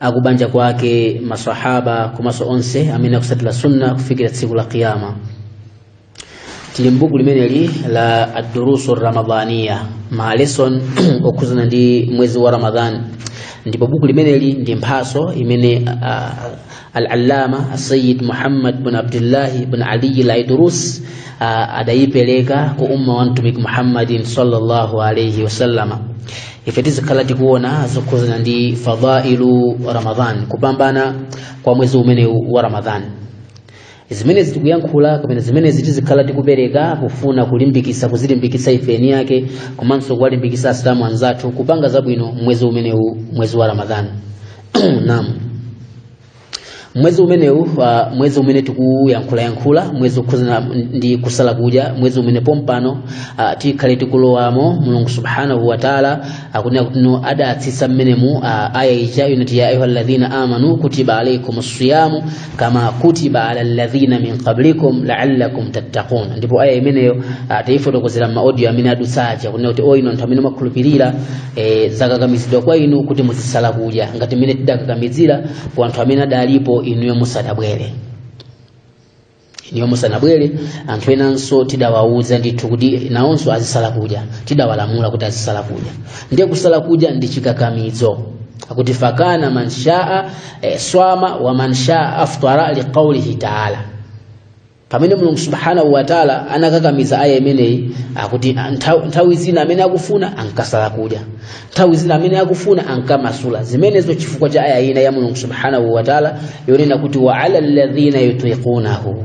akubanja kwake masahaba komanso onse amene akusatira sunna kufikira tsiku la kiyama tili mbuku limeneli la adurusu ramadhaniya ma lesson okhuzana ndi mwezi wa ramadhan ndipo buku limeneli ndi mphaso imene uh, al-allama asayid muhammad bin abdullahi bin aliyi laidurus uh, adayipereka ku umma wa mtumiki muhammadin sallallahu alaihi wasallama ife tizikhala tikuona zokhuzana ndi fadailu ramadan kupambana kwa mwezi umenewu wa ramadan zimenezi tikuyankhula kapena zimenezi tizikhala tikupereka kufuna kulimbikisa kuzilimbikisa ife eni yake komanso kuwalimbikisa asilamu anzathu kupanga zabwino mwezi umenewu mwezi wa ramadan naam mwezi umenewu uh, mwezi umene tikuyankhulayankhula mwezi wokhudzana ndi kusala kudya mwezi umene pompano uh, tikhale tikulowamo mulungu subhanahu wataala akunena kuti no adatsitsa mmenemu uh, aya ija yonati ya ayuha alladhina amanu kutiba alaikum siyamu kama kutiba ala alladhina min qablikum laallakum tattaqun ndipo aya imeneyo uh, taifotokozera m'maaudio amene adutsaja kunena kuti o inu anthu amene mwakhulupirira e, zakakamizidwa kwa inu kuti muzisala kudya ngati mmene tidakakamizira kwa anthu amene adalipo inuyo musanabwere inuyo musanabwere anthu enanso tidawauza ndithu kuti nawonso azisala kudya tidawalamula kuti azisala kudya ndiye kusala kudya ndi chikakamizo akuti fakana man shaa e, swama wa man shaa aftara liqaulihi taala pamene mulungu subhanahu wataala anakakamiza aya imeneyi akuti nthawi, nthawi zina amene akufuna ankasala kudya nthawi zina amene akufuna ankamasula zimenezo chifukwa cha aya ina ya mulungu subhanahu wataala yonena kuti wa ala alladhina yutiqunahu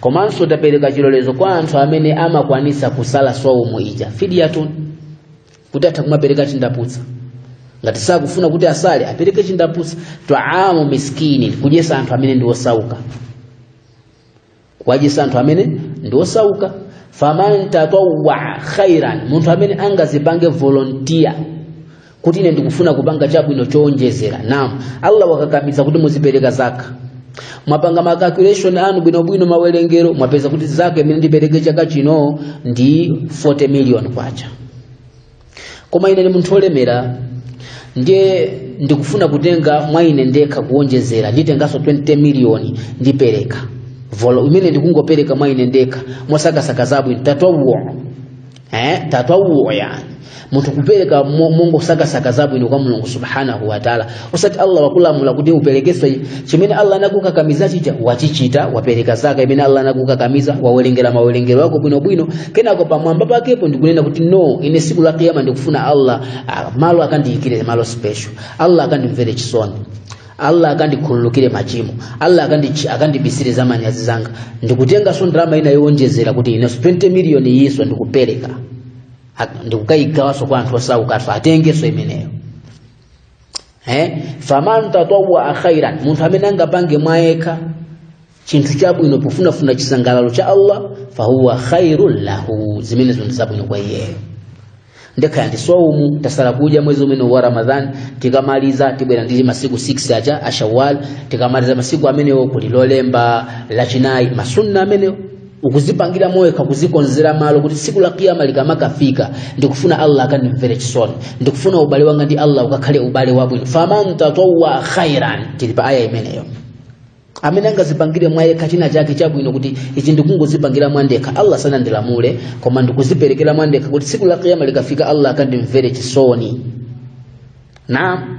komanso tapereka chilolezo kwa anthu amene amakwanisa kusala swaumu ija fidyatun kuti atha kumapereka chindaputsa ngati sakufuna kuti asale apereke chindaputsa twaamu miskini kudyesa anthu amene ndi osauka kuwajisa anthu amene ndi osauka faman tatawwa khairan munthu amene angazipange volunteer kuti ine ndikufuna kupanga chabwino chowonjezera naam allah wakakamiza kuti muzipereka zaka mwapanga ma calculation anu bwinobwino mawerengero mwapeza kuti zaka imene ndipereke chaka chino ndi 40 million kwacha koma ine ndi munthu wolemera ndiye ndikufuna kutenga mwa ine ndekha kuwonjezera nditenganso 20 miliyoni ndipereka volo imene ndikungopereka mwa ine ndekha mosakasaka zabwino tatwauwo eh, tatwauwo yani munthu kupereka mo- mongosakasaka zabwino kwa mulungu subhanahu wataala osati allah wakulamula kuti uperekenso chimene allah anakukakamiza chija wachichita wapereka zaka imene allah anakukakamiza wawerengera mawerengero ako bwinobwino kenako pamwamba pakepo ndikunena kuti no ine siku la kiyama ndikufuna allah ah, malo akandiyikire malo special allah akandimvere chisoni allah akandikhululukire machimo allah akandi- akandibisire za manyazi zanga ndikutenganso ndalama ina yowonjezera kuti inenso 20 miliyoni iyinso ndikupereka Ha- ndikukayigawanso kwa anthu osaukaso atengenso imeneyo eh faman tatawwa khairan munthu amene angapange mwa yekha chinthu chabwino pofunafuna chisangalalo cha Allah fahuwa khairul lahu zimenezo ndi zabwino kwa iyeyo ndekhala ndi swaumu tasala kudya mwezi umene wa ramadhan tikamaliza tibwera ndi masiku 6 aja a shawal tikamaliza masiku amenewo kuli lolemba lachinayi masunna amenewo ukuzipangira mwa wekha kuzikonzera malo kuti tsiku la kiyama likamakafika ndikufuna allah akandimvere chisoni ndikufuna ubale wanga ndi allah ukakhale ubale wabwino faman tatawwa khairan tili pa aya imeneyo amene angazipangire mwa yekha china chake chabwino kuti ichi ndikungozipangira mwa ndekha allah sanandilamule koma ndikuziperekera mwa ndekha kuti tsiku la kiyama likafika allah akandimvere chisoni naam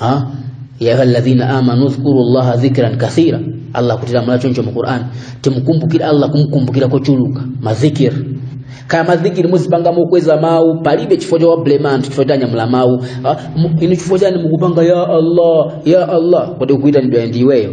ha ya ayyuhalladhina amanu dhkuru llaha dhikran kathira allah kutilamula choncho mu qur'an timkumbukire allah kumkumbukira kochuluka madhikir kaya madhikiri muzipanga mokweza mawu palibe chifukwa chowablema anthu chifukwa anyamula mawu Ah, mu- inu chifukwa chani mukupanga ya allah ya allah kodi akuitanidwayo ndi iweyo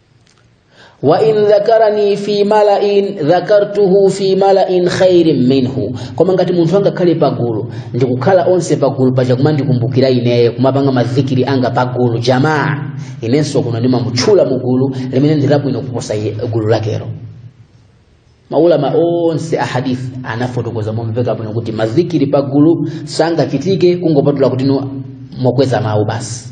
wa in dhakarani fi malain dhakartuhu fi malain khairin minhu koma ngati munthu angakhale pagulu ndikukhala onse pagulu paja kumandikumbukira ineyo kumapanga mazikiri anga pagulu jamaa inenso kuno ndimamutchula mu gulu limene ndi labwino kuposa gulu lakelo maulama onse a hadith anafotokoza momveka bwino kuti mazikiri pagulu sangachitike kungopatula kuti mokweza mawu basi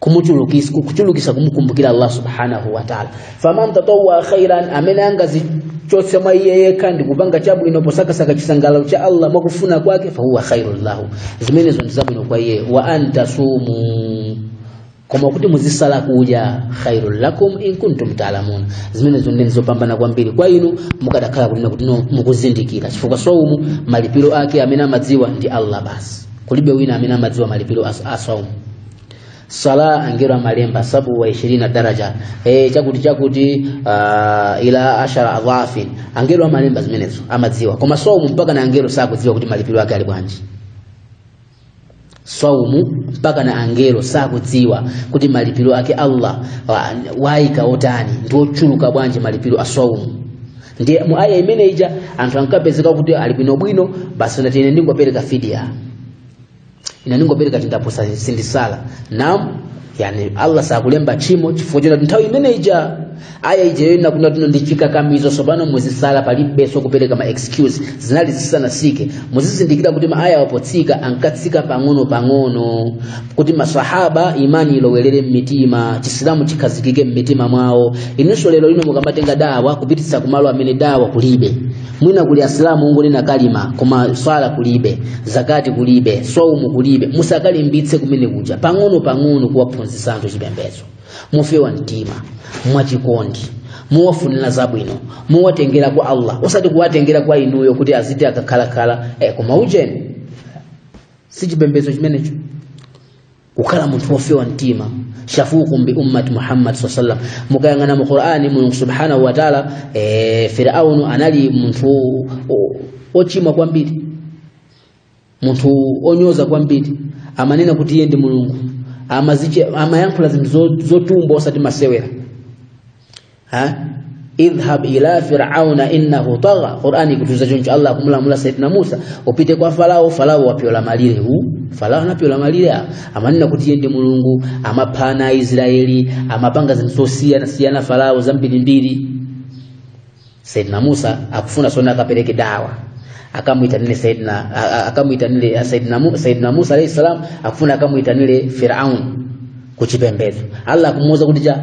kumuchulukisa kuchulukisa kumukumbukira Allah subhanahu wa ta'ala faman tatawwa khairan amene angazichotse mwa iye yekha ndi kupanga chabwino posakasaka chisangalalo cha Allah mwakufuna kwake fa huwa khairul lahu zimenezo ndi zabwino kwa iye wa an tasumu koma kuti muzisala kudya khairul lakum in kuntum ta'lamun zimenezo ndi zopambana kwambiri kwa inu mukadakhala kuti kuti mukuzindikira chifukwa saumu malipiro ake amene amadziwa ndi Allah basi kulibe wina amene amadziwa malipiro as- a saumu sala angero amalemba sabu wa ishirina daraja e, chakuti chakuti uh, ila ashara adhafin angero amalemba zimenezo amadziwa koma saumu mpaka na angero sakudziwa kuti malipiro ake ali bwanji saumu mpaka na angero sakudziwa kuti malipiro ake allah wa- waika otani ndi ochuluka bwanji malipiro a saumu ndiye mu aya imene ija anthu ankapezeka kuti ali bwinobwino basi nati ine ndingopereka fidia ine ndingopereka chindapusa sindisala nam yani allah sakulemba tchimo chifukwa chonena kuti nthawi imene ija aya ija yonena kunena kuti ino ndi chikakamizo tsopano muzisala palibenso kupereka ma excuse zinali zisanatsike muzizindikira kuti ma aya wapotsika ankatsika pang'ono pang'ono kuti masahaba imani ilowelere mmitima chisilamu chikhazikike mmitima mwawo inunso lero lino mukamatenga dawa kupititsa kumalo amene dawa kulibe mwina kuli asilamu ongonena kalima koma swala kulibe zakati kulibe swaumu kulibe musakalimbitse kumene kuja pang'ono pang'ono kuwaphunzitsa anthu chipembedzo mofewa mtima mwachikondi mowafunira zabwino mowatengera kwa allah osati kuwatengera kwa inuyo kuti aziti akakhalakhala eh, koma ujeni si chipembedzo chimenecho kukhala munthu wofewa mtima shafukum bi ummati muhammad saa sallam mukayang'ana mu qur'ani mulungu subhanahu wa taala e, firaunu anali munthu o- ochimwa kwambiri munthu onyoza kwambiri amanena kuti iye ndi mulungu amaziche- amayankhula zinthu zo- zotumbwa osati masewera ha idhhab ila fir'auna innahu tagha qur'ani kutiuza choncho allah akumulamula sayyidina musa upite kwa farao farao wapyola malire hu farao anapyola malire a- amanena kuti iye ndi mulungu amapha ana aisraeli amapanga zinthu zosiyana siyana farao zambirimbiri sayyidina musa akufuna sona akapereke dawa akamuitanile sayyidina a- a- akamuitanile sayyidina Mu- sayyidina musa alayhi salam akufuna akamuitanile firaun kuchipembedzo allah akumuuza kuti chani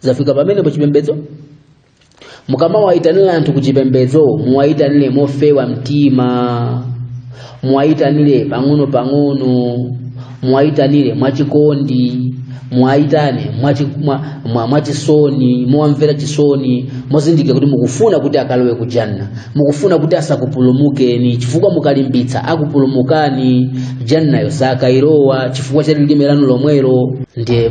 zafika pamenepo chipembedzo mukamawayitanira anthu kuchipembedzo muwayitanire mofewa mtima muwayitanire pang'ono pang'ono muwayitanire mwachikondi muwayitane mwachi- mwa- mwa- mwachisoni mowamvera chisoni muzindikire kuti mukufuna kuti akalowe ku janna mukufuna kuti asakupulumukeni chifukwa mukalimbitsa akupulumukani jannayo sakayilowa chifukwa cha lilime lanu lomwelo ndiye